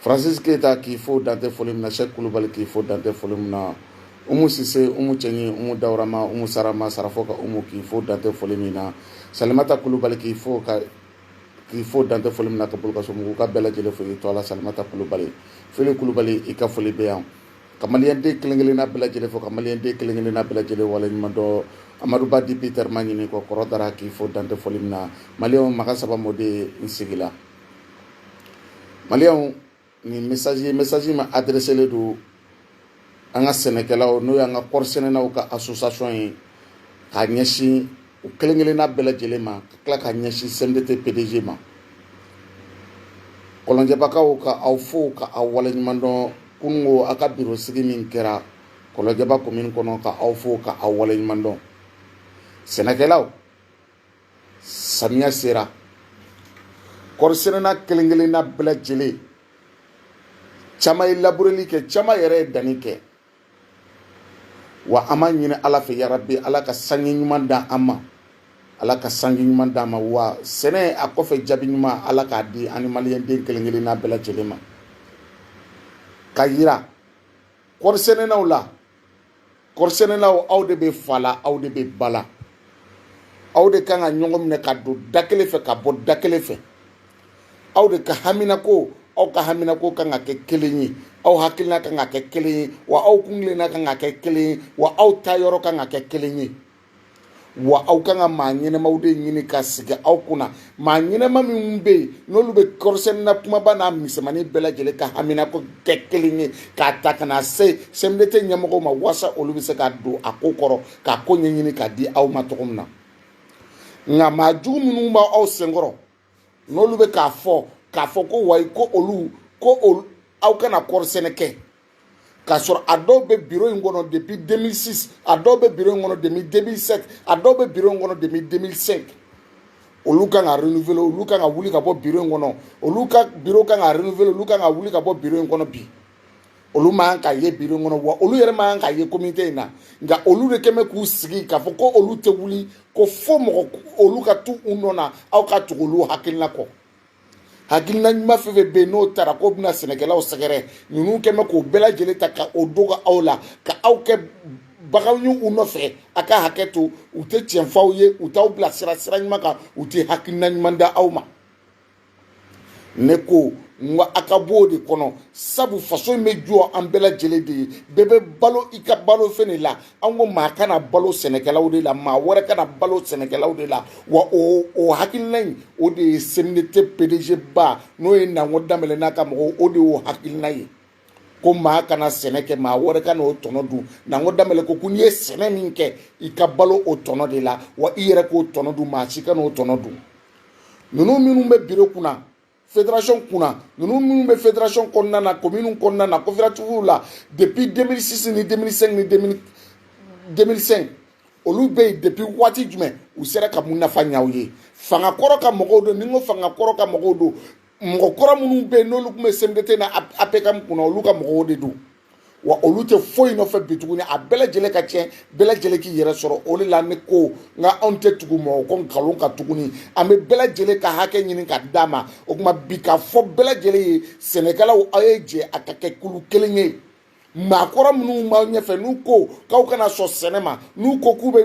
francis keyita k'i fo dan tɛ foli min na sɛk kulubali k'i fo dan tɛ foli min na umu sise umu cɛɲi umu dawurama umu sarama sarafo ka umu k'i fo dan tɛ foli min na salimata kulubali k'i fo ka k'i fo dan tɛ foli min na ka bolokaso mugu ka bɛɛ lajɛlen fo i to ala salimata kulubali fili kulubali i ka foli bɛ yan ka maliyɛnden kelen kelenna bɛɛ lajɛlen fo ka maliyɛnden kelen kelenna bɛɛ lajɛlen waleɲuman dɔn amadu ba dit peter ma ɲini kɔ kɔrɔ dara k'i fo dan tɛ foli min na maliyɛnw maga saba mɔden n sigila maliyɛnw nin mesaji mesaji ma adireselen don an ka sɛnɛkɛlaw n'o y'an ka kɔɔri sɛnɛnaw ka asosasiyɔn ye k'a ɲɛsin u kelen kelenna bɛɛ lajɛlen ma ka tila ka ɲɛsin sɛmidete pdg ma kɔlɔnjɛbakaw ka aw fo ka aw waleɲuman dɔn kununko a ka biro sigi min kɛra kɔlɔnjɛba komini kɔnɔ ka aw fo ka aw waleɲuman dɔn sɛnɛkɛlaw samiya sera kɔrisɛnɛna kelen kelenna bɛɛ lajɛlen caman ye labureli kɛ caman yɛrɛ ye danni kɛ wa an b'a ɲini ala fɛ yarabi ala ka sanji ɲuman da an ma ala ka sanji ɲuman d'an ma wa sɛnɛ a kɔfɛ jaabi ɲuman ala k'a di an ni maliyɛnden kelen kelenna bɛɛ lajɛlen ma ka yira kɔri sɛnɛnaw la kɔrisɛnɛlaw aw de bɛ fa la aw de bɛ ba la aw de kan ka ɲɔgɔn minɛ ka don da kelen fɛ ka bɔ da kelen fɛ aw de ka haminako aw ka haminako kan ka kɛ kelen ye aw hakilina kan ka kɛ kelen ye wa aw kuntilenna kan ka kɛ kelen ye wa aw taayɔrɔ kan ka kɛ kelen ye wa aw kan ka maa ɲɛnamaw de ɲini ka sigi aw kunna maa ɲɛnama minnu bɛ yen n'olu bɛ kɔrisɛnɛna kumaba n'a misɛnmanin bɛɛ lajɛlen ka haminako kɛ kelen ye k'a ta ka na se sɛmidete ɲɛmɔgɔw ma walasa olu bɛ se ka don a ko kɔrɔ k'a ko ɲɛɲini k'a di aw ma cogo min na nka maa jugu minnu b'aw senkɔrɔ n'olu bɛ k'a fɔ k'a fɔ ko wayi ko olu ko olu aw kana kɔɔri sɛnɛ kɛ k'a sɔrɔ a dɔw bɛ biro in kɔnɔ depuis 2006 a dɔw bɛ biro in kɔnɔ depuis 2007 a dɔw bɛ biro in kɔnɔ depuis 2005 olu kan ka renouveler olu kan ka wuli ka bɔ biro in kɔnɔ olu ka biro kan ka renouveler olu kan ka wuli ka bɔ biro in kɔnɔ bi olu man kan ka ye biro in kɔnɔ wa olu yɛrɛ man kan ka ye komite in na nka olu de kɛn bɛ k'u sigi k'a fɔ ko olu tɛ wuli ko fo mɔgɔ olu ka to u nɔ na aw ka tugu olu hakilina kɔ hakilina ɲuman fɛn fɛn bɛ yen n'o taara k'o bɛna sɛnɛkɛlaw sɛgɛrɛ ninnu kɛn bɛ k'o bɛɛ lajɛlen ta ka o dogo aw la ka aw kɛ baganw ye u nɔfɛ a ka hakɛ to u tɛ tiɲɛ f'aw ye u t'aw bilasira sira ɲuman kan u tɛ hakilina ɲuman da aw ma ne ko n ko a ka b'o de kɔnɔ sabu faso in bɛ jɔ an bɛɛ lajɛlen de ye bɛɛ bɛ balo i ka balo fɛn de la an ko maa kana balo sɛnɛkɛlaw de la maa wɛrɛ kana balo sɛnɛkɛlaw de la wa o hakilina in o de ye cmdt pdg ba n'o ye nango danbɛlɛ n'a ka mɔgɔw o de y'o hakilina ye ko maa kana sɛnɛ kɛ maa wɛrɛ ka n'o tɔnɔ dun nango danbɛlɛ ko ko n'i ye sɛnɛ min kɛ i ka balo o tɔnɔ de la wa i yɛrɛ k'o tɔnɔ dun maa si kan'o tɔnɔ dun ninnu minnu bɛ biro kunna fédération kunna ninnu minnu bɛ fédération kɔnɔna na commune kɔnɔna na coopérative la depuis 2006 ni 2005 ni 2005 olu bɛ yen depuis waati jumɛn u sera ka mun nafa ɲɛ aw ye fanga kɔrɔ ka mɔgɔw don ni n ko fanga kɔrɔ ka mɔgɔw don mɔgɔ kɔrɔ minnu bɛ yen n'olu tun bɛ cmdt na apcam kunna olu ka mɔgɔw de don wa olu tɛ foyi nɔfɛ bi tuguni a bɛɛ lajɛlen ka tiɲɛ bɛɛ lajɛlen k'i yɛrɛ sɔrɔ o de la ne ko n k'anw tɛ tugu mɔgɔ kɔ nkalon kan tuguni an bɛ bɛɛ lajɛlen ka hakɛ ɲini ka d'a ma o tuma bi k'a fɔ bɛɛ lajɛlen ye sɛnɛkɛlaw aw ye jɛ a ka kɛ kulu kelen ye maakɔrɔ minnu b'aw ɲɛfɛ n'u ko k'aw kana sɔn sɛnɛ ma n'u ko k'u bɛ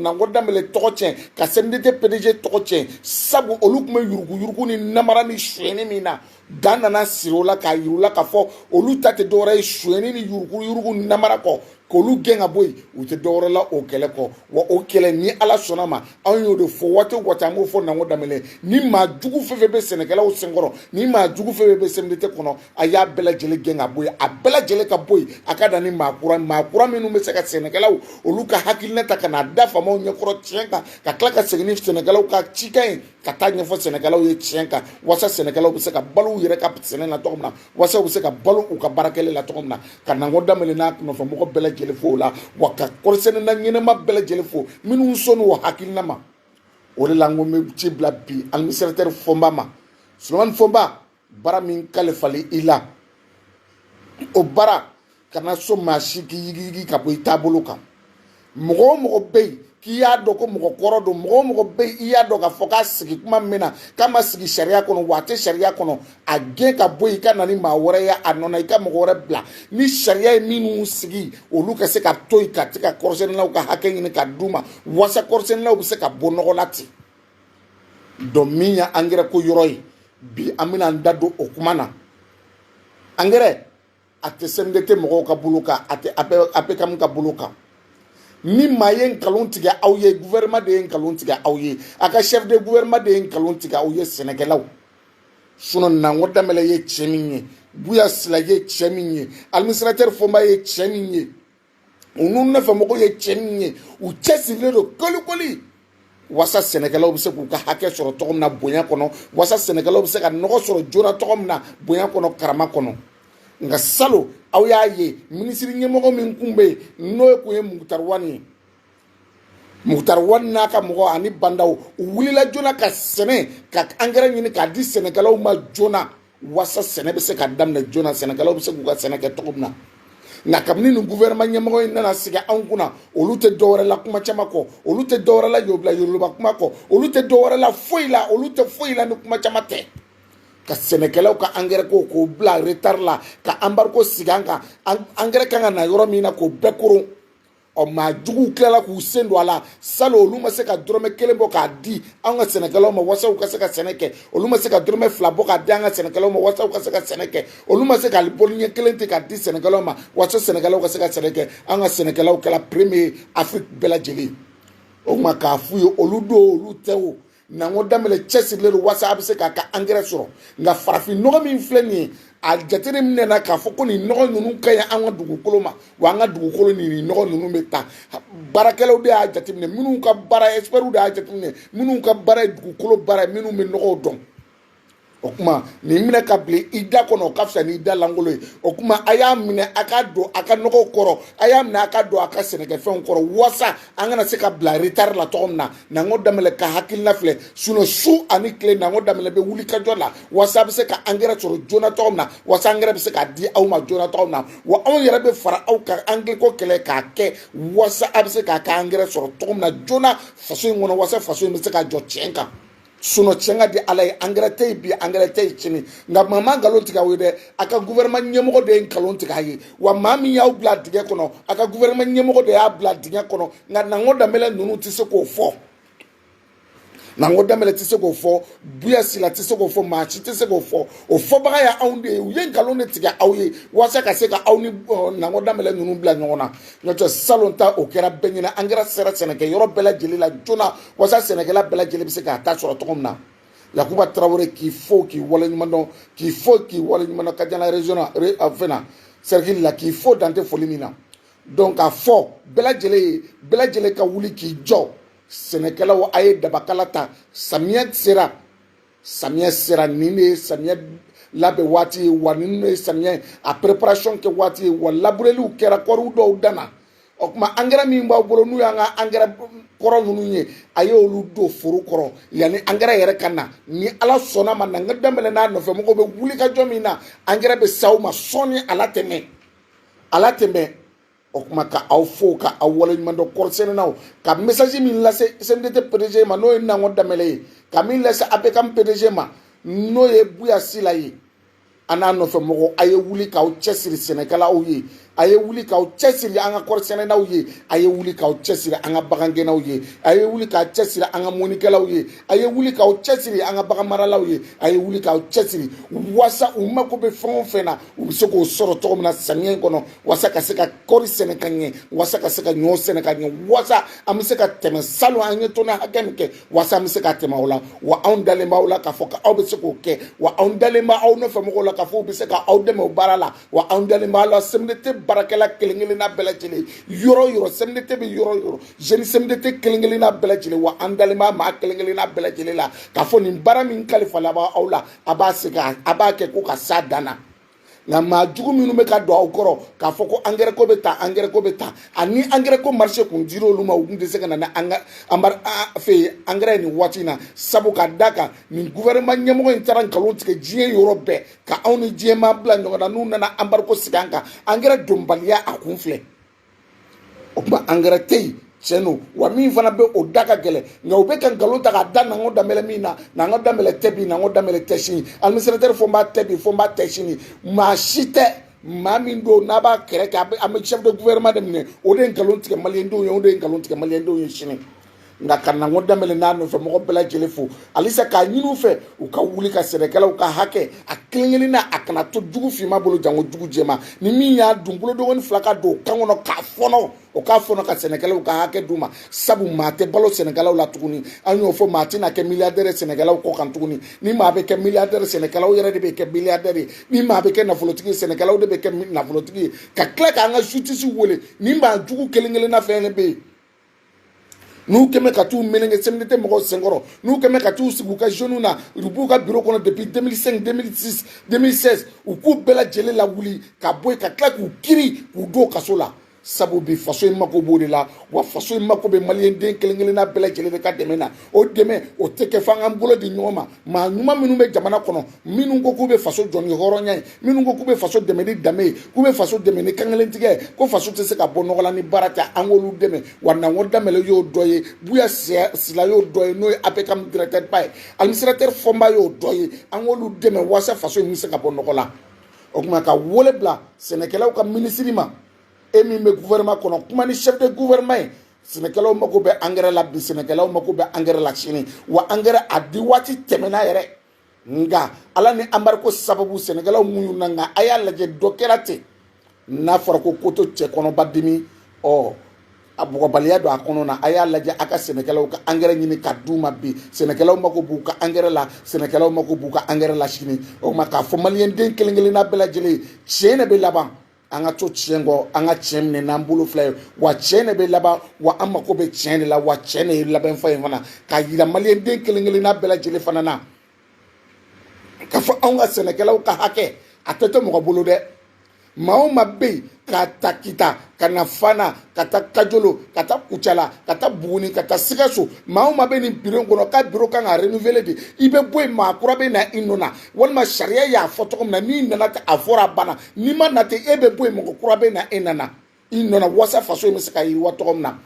nango danbɛlɛ tɔgɔ tiɲɛ ka cmdt pdg tɔgɔ tiɲɛ sabu olu tun bɛ yuruguyurugu ni namara ni sonyɛni min na dan nana siri o la k'a yir'u la k'a fɔ olu ta tɛ dɔwɛrɛ ye sonyɛni ni yuruguyurugu ni namara kɔ k'olu gɛn ka bɔ yen u tɛ dɔwɛrɛ la o kɛlɛ kɔ wa o kɛlɛ ni ala sɔnna ma anw y'o de fɔ waati o waati an b'o fɔ nango danbɛlɛ ni maa jugu fɛn fɛn bɛ sɛnɛkɛlaw senkɔrɔ ni maa jugu fɛn fɛn bɛ cmdt kɔnɔ a y'a bɛɛ lajɛlen gɛn ka bɔ yen a bɛɛ lajɛlen ka bɔ yen a ka na ni maa kura maa kura minnu bɛ se ka sɛnɛkɛlaw olu ka hakilina ta ka n'a da faamaw ɲɛkɔrɔ tiɲɛ kan ka tila ka segin ni sɛnɛkɛlaw ka cikan ye ka taa ɲɛfɔ sɛnɛkɛlaw ye tiɲɛ kan walasa sɛnɛkɛlaw bɛ se ka balo u yɛrɛ ka sɛnɛ na cogo min na walasa u bɛ se ka balo u ka baarakɛli la cogo min na ka nango danbɛlɛ n'a nɔfɛmɔgɔ bɛɛ lajɛlen fo o la wa ka kɔɔrisɛnɛna ɲɛnama bɛɛ lajɛlen fo minnu sɔnni o hakilina ma o de la n ko n bɛ ci bila bi administrateur fɔnba ma solomani fɔnba baara min kalifali i la o baara kana sɔn maa si k'i yigiyigi ka bɔ i taabolo kan mɔgɔ o mɔgɔ bɛ yen k'i y'a dɔn ko mɔgɔ kɔrɔ don mɔgɔ o mɔgɔ bɛ yen i y'a dɔn k'a fɔ k'a sigi kuma min na k'a ma sigi sariya kɔnɔ wa a tɛ sariya kɔnɔ a gɛn ka bɔ yen i ka na ni maa wɛrɛ ye a nɔ na i ka mɔgɔ wɛrɛ bila ni sariya ye minnu sigi olu ka se ka to yen ka se ka kɔɔrisɛnɛlaw ka hakɛ ɲini ka d'u ma walasa kɔɔrisɛnɛlaw bɛ se ka bɔ nɔgɔ la ten donc min ye angɛrɛ ko yɔrɔ ye bi an bɛna an da don o kuma na angɛrɛ a tɛ cmdt mɔgɔw ka bolo kan a tɛ apcam ka bolo kan ni maa ye nkalon tigɛ aw ye gouvernement de ye nkalon tigɛ aw ye a ka chef de gouvernement de ye nkalon tigɛ aw ye sɛnɛkɛlaw sinon nango danbɛlɛ ye cɛ min ye buya sila ye cɛ min ye administrateur fɔnba ye cɛ min ye u n'u nɔfɛ mɔgɔw ye cɛ min ye u cɛsirilen don kolikoli wasa sɛnɛkɛlaw bɛ se k'u ka hakɛ sɔrɔ cogo min na bonya kɔnɔ wasa sɛnɛkɛlaw bɛ se ka nɔgɔ sɔrɔ joona cogo min na bonya kɔnɔ karama kɔnɔ nka salon aw y'a ye minisiri ɲɛmɔgɔ min kun bɛ yen n'o ye kun ye mukutari wani ye mukutari wani n'a ka mɔgɔ ani ba ndaw u wulila joona ka sɛnɛ ka angɛrɛ ɲini k'a di sɛnɛkɛlaw ma joona wasa sɛnɛ bɛ se ka daminɛ joona sɛnɛkɛlaw bɛ se k'u ka sɛnɛ kɛ cogo min na nka kabini nin guvɛrɛnma ɲɛmɔgɔ in nana sigi anw kunna olu tɛ dɔwɛrɛ la kuma caman kɔ olu tɛ dɔwɛrɛ la yobila yoroloba kuma kɔ olu tɛ dɔwɛrɛ la foyi la olu tɛ foyi la ni kuma caman tɛ ka sɛnɛkɛlaw ka angɛrɛ ko k'o bila retari la ka anbarigo sigi an kan angɛrɛ kan ka na yɔrɔ min na k'o bɛɛ kɔrɔn ɔ maa juguw tilala k'u sen don a la salon olu ma se ka dɔrɔmɛ kelen bɔ k'a di an ka sɛnɛkɛlaw ma walasa u ka se ka sɛnɛ kɛ olu ma se ka dɔrɔmɛ fila bɔ k'a di an ka sɛnɛkɛlaw ma walasa u ka se ka sɛnɛ kɛ olu ma se ka bɔli ɲɛ kelen ten k'a di sɛnɛkɛlaw ma walasa sɛnɛkɛlaw ka se ka sɛnɛ kɛ an ka sɛnɛkɛlaw kɛra premier afiriki bɛɛ lajɛlen o tuma k'a f'u ye olu don olu tɛ o nango danbɛlɛ cɛsirilen don walasa a bɛ se k'a ka angɛrɛ sɔrɔ nka farafin nɔgɔ min filɛ nin ye a jateminɛna k'a fɔ ko nin nɔgɔ ninnu ka ɲi an ka dugukolo ma wa an ka dugukolo ni nin nɔgɔ ninnu bɛ taa baarakɛlaw de y'a jateminɛ minnu ka baara ɛsipɛriw de y'a jateminɛ minnu ka baara ye dugukolo baara ye minnu bɛ nɔgɔw dɔn o kuma nin minɛ k'a bila i da kɔnɔ o ka fisa ni i da lankolon ye o kuma a y'a minɛ a ka don a ka nɔgɔw kɔrɔ a y'a minɛ a ka don a ka sɛnɛkɛfɛnw kɔrɔ walasa an kana se ka bila retari la cogo min na nango danbɛlɛ ka hakilina filɛ sinon su ani tile nango danbɛlɛ bɛ wuli ka jɔ la walasa a bɛ se ka angɛrɛ sɔrɔ joona cogo min na walasa angɛrɛ bɛ se ka di aw ma joona cogo min na wa anw yɛrɛ bɛ fara aw kan angɛrɛ ko kɛlɛ k'a kɛ walasa a bɛ se k'a ka angɛrɛ sɔrɔ cogo min na joona faso in kɔnɔ walasa faso in bɛ se ka jɔ tiɲɛ kan sinon tiɲɛ ka di ala ye angɛrɛ tɛ yen bi angɛrɛ tɛ yen sini nka maa ma nkalon tigɛ aw ye dɛ a ka guvɛrɛma ɲɛmɔgɔ de ye nkalon tigɛ a ye wa maa min y'aw bila dingɛ kɔnɔ a ka guvɛrɛma ɲɛmɔgɔ de y'a bila dingɛ kɔnɔ nka nango danbɛlɛ ninnu tɛ se k'o fɔ nango danbɛlɛ tɛ se k'o fɔ buya sila tɛ se k'o fɔ maa si tɛ se k'o fɔ o fɔbaga ye anw de ye u ye nkalon de tigɛ aw ye walasa ka se ka aw ni nango danbɛlɛ ninnu bila ɲɔgɔn na n'o tɛ salon ta o kɛra bɛɛ ɲɛna angɛrɛ sera sɛnɛkɛ yɔrɔ bɛɛ lajɛlen la joona wasa sɛnɛkɛla bɛɛ lajɛlen bɛ se k'a ta sɔrɔ cogo min na yakuba tarawele k'i fo k'i waleɲuman dɔn k'i fo k'i waleɲuman dɔn kajana région na fɛn na cercle la k'i fo dan tɛ foli min na donc k'a fɔ bɛɛ lajɛlen ye bɛɛ lajɛlen ka wuli k'i jɔ sɛnɛkɛlaw a ye dabakala ta samiyɛ sera samiyɛ sera nin de ye samiyɛ labɛn waati ye wa nin de ye samiyɛ a préparation kɛ waati ye wa labureliw kɛra kɔriw dɔw danna o tuma angɛrɛ min b'aw bolo n'u y'an ka angɛrɛ kɔrɔ ninnu ye a ye olu don foro kɔrɔ yanni angɛrɛ yɛrɛ ka na ni ala sɔnna ma nango danbɛlɛ n'a nɔfɛ mɔgɔw bɛ wuli ka jɔ min na angɛrɛ bɛ s'aw ma sɔɔni ala tɛmɛ ala tɛmɛ o kuma ka aw fo ka aw waleɲuman dɔn kɔɔrisɛnɛnaw ka message min lase cmdt pdg ma n'o ye nango danbɛlɛ ye ka min lase apcam pdg ma n'o ye buya sila ye a n'a nɔfɛ mɔgɔw a ye wuli k'aw cɛsiri sɛnɛkɛlaw ye a ye wuli k'aw cɛsiri an ka kɔɔrisɛnɛnaw ye a ye wuli k'aw cɛsiri an ka bagangɛnnaw ye a ye wuli k'a cɛsiri an ka mɔnikɛlaw ye a ye wuli k'aw cɛsiri an ka baganmaralaw ye a ye wuli k'aw cɛsiri wasa u mako bɛ fɛn o fɛn na u bɛ se k'o sɔrɔ cogo min na samiyɛ in kɔnɔ walasa ka se ka kɔɔri sɛnɛ ka ɲɛ walasa ka se ka ɲɔ sɛnɛ ka ɲɛ walasa an bɛ se ka tɛmɛ salon an ye tɔni hakɛ min kɛ walasa an bɛ se ka tɛmɛ o la wa anw dalen b'aw la k'a fɔ ko aw bɛ se k'o kɛ wa anw dalen bɛ aw nɔfɛ mɔgɔw la k'a fɔ u bɛ se ka aw dɛmɛ o baara la wa anw dalen b'aw la sɛmidete baarakɛla kelen kelenna bɛɛ lajɛlen yɔrɔ o yɔrɔ sɛmidete bɛ yɔrɔ o yɔrɔ zoni sɛmidete kelen kelenna bɛɛ lajɛlen wa an dalen b'a maa kelen kelenna bɛɛ lajɛlen la k'a fɔ nin baara min kalifala aw la a b'a segin a b'a kɛ ko ka s'a dan na nka maa jugu minnu bɛ ka don aw kɔrɔ k'a fɔ ko angɛrɛ ko bɛ tan angɛrɛ ko bɛ tan ani angɛrɛ ko marise kun dira olu ma u tun tɛ se ka na ni anbari fɛ angɛrɛ ye nin waati in na sabu ka da kan nin gouvernement ɲɛmɔgɔ in taara nkalon tigɛ diɲɛ yɔrɔ bɛɛ ka anw ni diɲɛmaa bila ɲɔgɔn na n'u nana embargo sigi an kan angɛrɛ donbaliya a kun filɛ o tuma angɛrɛ tɛ yen tiɲɛ don wa min fana bɛ o da ka gɛlɛn nka u bɛ ka nkalon ta k'a da nango danbɛlɛ min na nango danbɛlɛ tɛ bi nango danbɛlɛ tɛ sini administrateur fɔnba tɛ bi fɔnba tɛ sini maa si tɛ maa min don n'a b'a kɛrɛ kɛ an bɛ chef de gouvernement de minɛ o de ye nkalon tigɛ maliyɛndenw ye o de ye nkalon tigɛ maliyɛndenw ye sini nka ka nango danbɛlɛ n'a nɔfɛ mɔgɔ bɛɛ lajɛlen fo halisa k'a ɲini u fɛ u ka wuli ka sɛnɛkɛlaw ka hakɛ a kelen kelen na a kana to jugu finma bolo janko jugu jɛman ni min y'a dun bolonkɔni fila ka don o kan kɔnɔ k'a fɔɔnɔ o k'a fɔɔnɔ ka sɛnɛkɛlaw ka hakɛ d'u ma sabu maa tɛ balo sɛnɛkɛlaw la tuguni an y'o fɔ maa tɛna kɛ miliyadɛrɛ sɛnɛkɛlaw kɔ kan tuguni ni maa bɛ kɛ miliyadɛrɛ sɛnɛkɛlaw yɛrɛ de bɛ kɛ miliyadɛrɛ ye ni maa bɛ kɛ nafolotigi ye sɛnɛkɛlaw de bɛ kɛ nafolotigi ye ka tila k'an ka justice wele nin maa jugu kelen kelenna fɛn de bɛ yen n'u kɛmɛ ka t'u meleke cmdt mɔgɔw senkɔrɔ n'u kɛmɛ ka t'u sigi u ka zone na u b'u ka biro kɔnɔ depuis 2005 2006 2016 u k'u bɛɛ lajɛlen lawuli ka bɔ yen ka tila k'u kiri k'u don kaso la sabu bi faso in mako b'o de la wa faso in mako bɛ maliyɛnden kelen kelenna bɛɛ lajɛlen de ka dɛmɛ na o dɛmɛ o tɛ kɛ f'an k'an bolo di ɲɔgɔn ma maa ɲuman minnu bɛ jamana kɔnɔ minnu ko k'u bɛ faso jɔ ni hɔrɔnya ye minnu ko k'u bɛ faso dɛmɛ ni danbe ye k'u bɛ faso dɛmɛ ni kankelentigiya ye ko faso tɛ se ka bɔ nɔgɔ la ni baara tɛ an k'olu dɛmɛ wa nango danbɛlɛ y'o dɔ ye buya sila y'o dɔ ye n'o ye apcam directeur ba ye administrateur fɔnba y'o dɔ ye an k'olu dɛmɛ walasa faso in bɛ se ka bɔ nɔgɔ la o tuma ka wele bila sɛnɛkɛlaw ka minisiri ma e min bɛ gouvernement kɔnɔ kuma ni chef de gouvernement ye sɛnɛkɛlaw mako bɛ angɛrɛ la bi sɛnɛkɛlaw mako bɛ angɛrɛ la sini wa angɛrɛ a di waati tɛmɛna yɛrɛ nka ala ni anbariko sababu sɛnɛkɛlaw muɲuna nka a y'a lajɛ dɔ kɛra ten n'a fɔra ko koto cɛ kɔnɔ b'a dimi ɔ a bugɔbaliya don a kɔnɔ na a y'a lajɛ a ka sɛnɛkɛlaw ka angɛrɛ ɲini ka d'u ma bi sɛnɛkɛlaw mako b'u ka angɛrɛ la sɛnɛkɛlaw mako b'u ka angɛrɛ la sini o tuma k'a fɔ maliyɛnden kelen kelenna bɛɛ lajɛlen tiɲɛ de bɛ laban an ka to tiɲɛ kɔ an ka tiɲɛ minɛ n'an bolo fila ye wa tiɲɛ de bɛ laban wa an mako bɛ tiɲɛ de la wa tiɲɛ de ye laban fɔ in fana k'a yira maliyɛnden kelen kelenna bɛɛ lajɛlen fana na k'a fɔ anw ka sɛnɛkɛlaw ka hakɛ a tɛ to mɔgɔ bolo dɛ maa o maa bɛ yen k'a ta kita ka na fana ka taa kajolo ka taa kucala ka taa buguni ka taa sikaso maa o maa bɛ nin biro kɔnɔ k'a biro kan ka renouveler de i bɛ bɔ yen maa kura bɛ na i nɔ na walima sariya y'a fɔ cogo min na n'i nana ten a fɔra a banna n'i ma na ten e bɛ bɔ yen mɔgɔ kura bɛ na e nɔ na i nɔ na wasa faso in bɛ se ka yiriwa cogo min na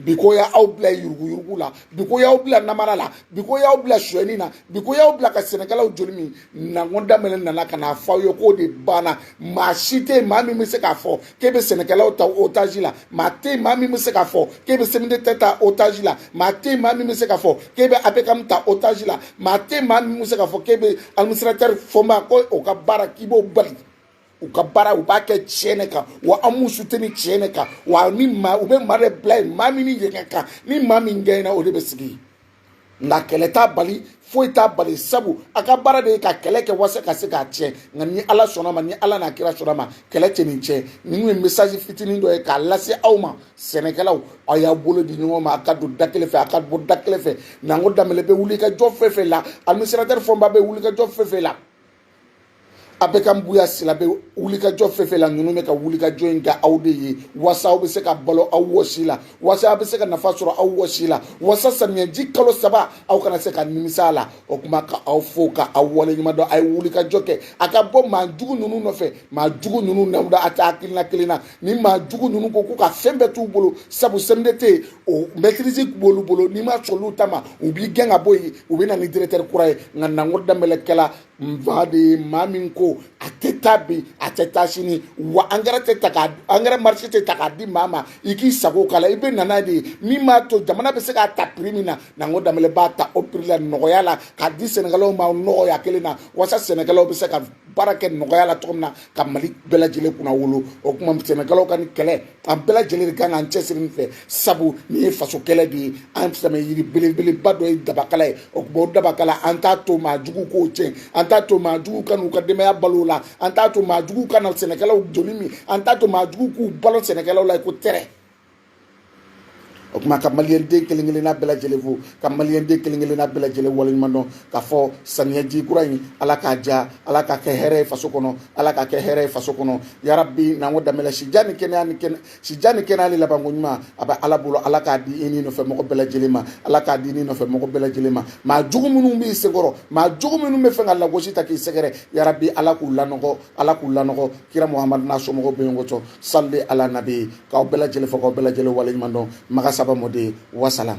bi ko y'aw bila yuruguyurugu la bi ko y'aw bila namara la bi ko y'aw bila suyɛni na bi ko y'aw bila ka sɛnɛkɛlaw joli min nango danbɛlɛ nana ka n'a fɔ aw ye k'o de banna maa si tɛ yen maa min bɛ se k'a fɔ k'e bɛ sɛnɛkɛlaw ta otazi la maa tɛ yen maa min bɛ se k'a fɔ k'e bɛ sɛmidete ta otaji la maa tɛ yen maa min bɛ se k'a fɔ k'e bɛ apekamu ta otaji la maa tɛ yen maa min bɛ se k'a fɔ k'e bɛ administratɛri fɔnba ko o ka baara k'i b'o bali u ka baara u b'a kɛ tiɲɛ de kan wa an b'u suteni tiɲɛ de kan wa ni maa u bɛ maa de bila yen maa min ni yen ka kan ni maa min gɛɲɛna o de bɛ sigi yen nka kɛlɛ t'a bali foyi t'a bali sabu a ka baara de ye ka kɛlɛ kɛ walasa ka se k'a tiɲɛ nka ni ala sɔnna ma ni ala n'a kira sɔnna ma kɛlɛ tɛ nin tiɲɛ nin ye mesaji fitinin dɔ ye k'a lase aw ma sɛnɛkɛlaw aw y'a bolo di ɲɔgɔn ma a ka don da kelen fɛ a ka bɔ da kelen fɛ nango danbɛlɛ bɛ wuli ka jɔ fɛn fɛn la administratɛri fɔnba bɛ wuli ka jɔ fɛn fɛn la apekamu buya sila bɛ wuli ka jɔ fɛn fɛn la ninnu bɛ ka wulikajɔ in kɛ aw de ye wasa aw bɛ se ka balo aw wɔsi la wasa aw bɛ se ka nafa sɔrɔ aw wɔsi la wasa samiyɛji kalo saba aw kana se ka nimisa a la o kuma ka aw fo ka aw waleɲuman dɔn a ye wulikajɔ kɛ a ka bɔ maa jugu ninnu nɔfɛ maa jugu ninnu n'aw de a tɛ hakilina kelen na ni maa jugu ninnu ko k'u ka fɛn bɛɛ t'u bolo sabu sɛmidete yen o mɛtirizi b'olu bolo n'i ma sɔn olu ta ma u b'i gɛn ka bɔ yen u bɛ na ni diretɛri kura ye nka nango danbɛlɛ kɛla nfa de ye maa min ko a tɛ taa bi a tɛ taa sini wa angɛrɛ tɛ ta k'a angɛrɛ marise tɛ ta k'a di maa ma i k'i sago k'a la i bɛ na n'a de ye min b'a to jamana bɛ se k'a ta piri min na nango danbɛlɛ b'a ta o piri la nɔgɔya la k'a di sɛnɛkɛlaw ma nɔgɔya kelen na walasa sɛnɛkɛlaw bɛ se ka baara kɛ nɔgɔya la cogo min na ka mali bɛɛ lajɛlen kunnawolo o kuma sɛnɛkɛlaw ka nin kɛlɛ an bɛɛ lajɛlen de kan k'an cɛsiri nin fɛ sabu nin ye faso kɛlɛ de ye an sɛmɛyiri belebeleba dɔ ye dabakala ye o kuma o dabakala an t'a to maa jugu k'o tiɲɛ an t'a to maa jugu ka n'u ka denbaya balo la an t'a to maa jugu ka na sɛnɛkɛlaw joli min an t'a to maa jugu k'u balo sɛnɛkɛlaw la ko tɛrɛ o tuma ka maliyɛnden kelen kelenna bɛɛ lajɛlen fo ka maliyɛnden kelen kelenna bɛɛ lajɛlen waleɲuman dɔn k'a fɔ samiyaji kura in ala k'a diya ala k'a kɛ hɛrɛ ye faso kɔnɔ ala k'a kɛ hɛrɛ ye faso kɔnɔ yarabi n'an ko damɛlɛ sijan ni kɛnɛya ni kɛnɛ sijan ni kɛnɛya ni labanko ɲuman a bɛ ala bolo ala k'a di i n'i nɔfɛ mɔgɔ bɛɛ lajɛlen ma ala k'a di i n'i nɔfɛ mɔgɔ bɛɛ lajɛlen ma maa jugu minnu b'i senkɔrɔ maa jugu minnu b'a fɛ ka lagosi ta k'i sɛgɛrɛ yarabi ala k'u lanɔgɔ ala k'u lanɔgɔ kira muhamadu n'a somɔgɔw bɛ ɲɔgɔn cɔ salli ala nabi k'aw bɛɛ lajɛlen fo k'aw bɛɛ lajɛlen waleɲuman dɔn maga saba mɔden wasalam